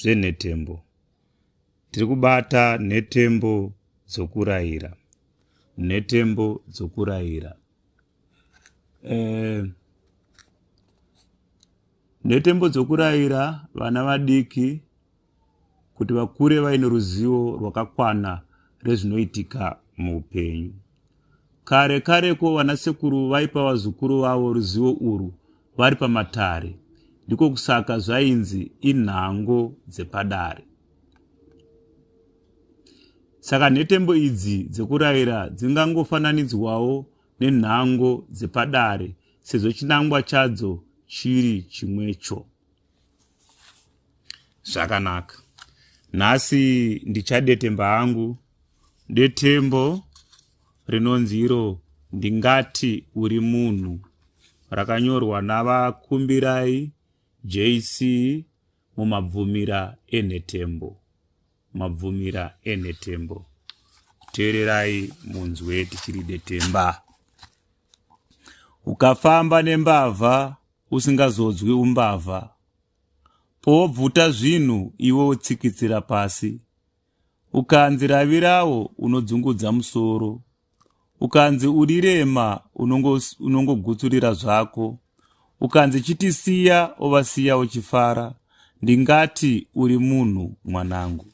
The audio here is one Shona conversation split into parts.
zvenhetembo. Tiri kubata nhetembo dzokurayira. Nhetembo dzokurayira. Eh, nhetembo dzokurayira vana vadiki kuti vakure vaine ruzivo rwakakwana rezvinoitika muupenyu. Kare kareko vanasekuru vaipa vazukuru vavo ruzivo urwu vari pamatare. Ndiko kusaka zvainzi inhango dzepadare. Saka nhetembo idzi dzekurayira dzingangofananidzwawo nenhango dzepadare sezvo chinangwa chadzo chiri chimwecho. zvakanaka nhasi ndichadetemba hangu detembo rinonzi iro ndingati uri munhu rakanyorwa navakumbirai jc mumabvumira enhetembo mabvumira enhetembo teererai munzwe tichiri detemba ukafamba nembavha usingazodzwi umbavha powobvuta zvinhu iwe wotsikitsira pasi ukanzi ravirawo unodzungudza musoro ukanzi urirema unongogutsurira unongo zvako ukanzi chitisiya ovasiya uchifara ndingati uri munhu mwanangu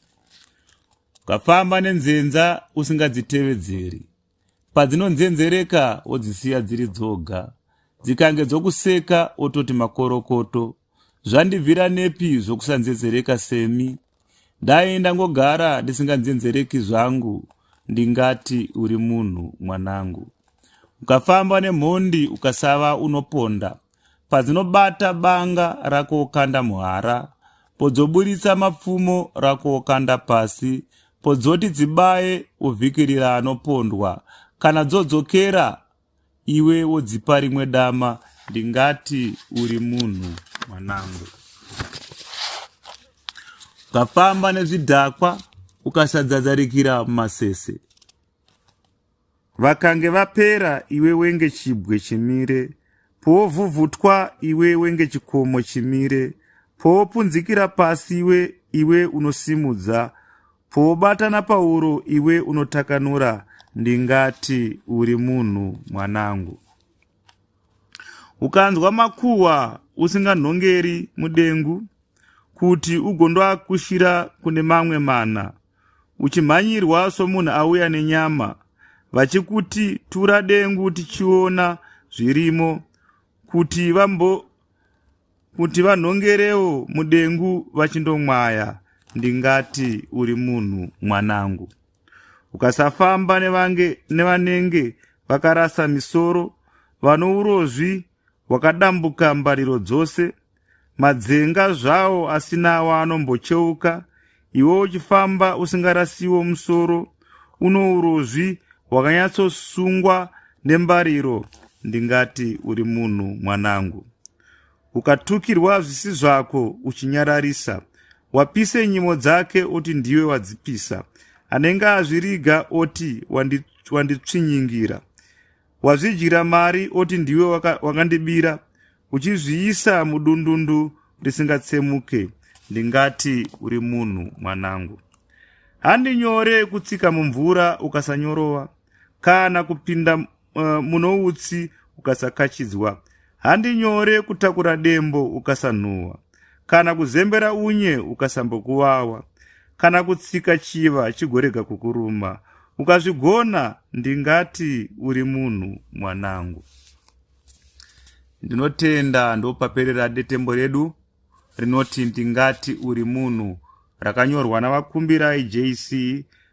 ukafamba nenzenza usingadzitevedzeri padzinonzenzereka wodzisiya dziri dzoga dzikange dzokuseka ototi makorokoto zvandibvira nepi zvokusanzenzereka semi dai ndangogara ndisinganzenzereki zvangu ndingati uri munhu mwanangu ukafamba nemhondi ukasava unoponda padzinobata banga rakokanda muhara podzoburitsa mapfumo rakokanda pasi podzoti dzibaye ovhikirira anopondwa kana dzodzokera iwe wodzipa rimwe dama ndingati uri munhu mwanangu ukafamba nezvidhakwa ukasadzadzarikira mumasese Vakange vapera iwe wenge chibwe chimire powovhuvhutwa iwe wenge chikomo chimire powopunzikira pasi iwe iwe unosimudza powobata napauro iwe unotakanura ndingati uri munhu mwanangu ukanzwa makuhwa usinganhongeri mudengu kuti ugondoakushira kune mamwe mana uchimhanyirwa somunhu auya nenyama vachikuti tura dengu tichiona zvirimo kuti vambo kuti vanhongerewo mudengu vachindomwaya ndingati uri munhu mwanangu ukasafamba nevange nevanenge vakarasa misoro vanourozvi wakadambuka mbariro dzose Madzinga zvawo asina waanombocheuka, iwe uchifamba usingarasiwo musoro, uno urozvi hwakanyatsosungwa nembariro, ndingati uri munhu mwanangu. Ukatukirwa zvisi zvako uchinyararisa, wapise nyimo dzake oti ndiwe wadzipisa, anenge azviriga oti wanditsvinyingira. wazvidyira mari oti ndiwe wakandibira waka uchizviisa mudundundu risingatsemuke ndingati uri munhu mwanangu handi nyore kutsika mumvura ukasanyorova kana kupinda uh, eh, muno utsi ukasakachidzwa handi nyore kutakura dembo ukasanhuhwa kana kuzembera unye ukasambokuvawa kana kutsika chiva chigorega kukuruma ukazvigona ndingati uri munhu mwanangu ndinotenda ndopaperera detembo redu rinoti ndingati uri munhu rakanyorwa navakumbirai jc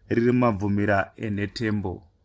riri mabvumira enhetembo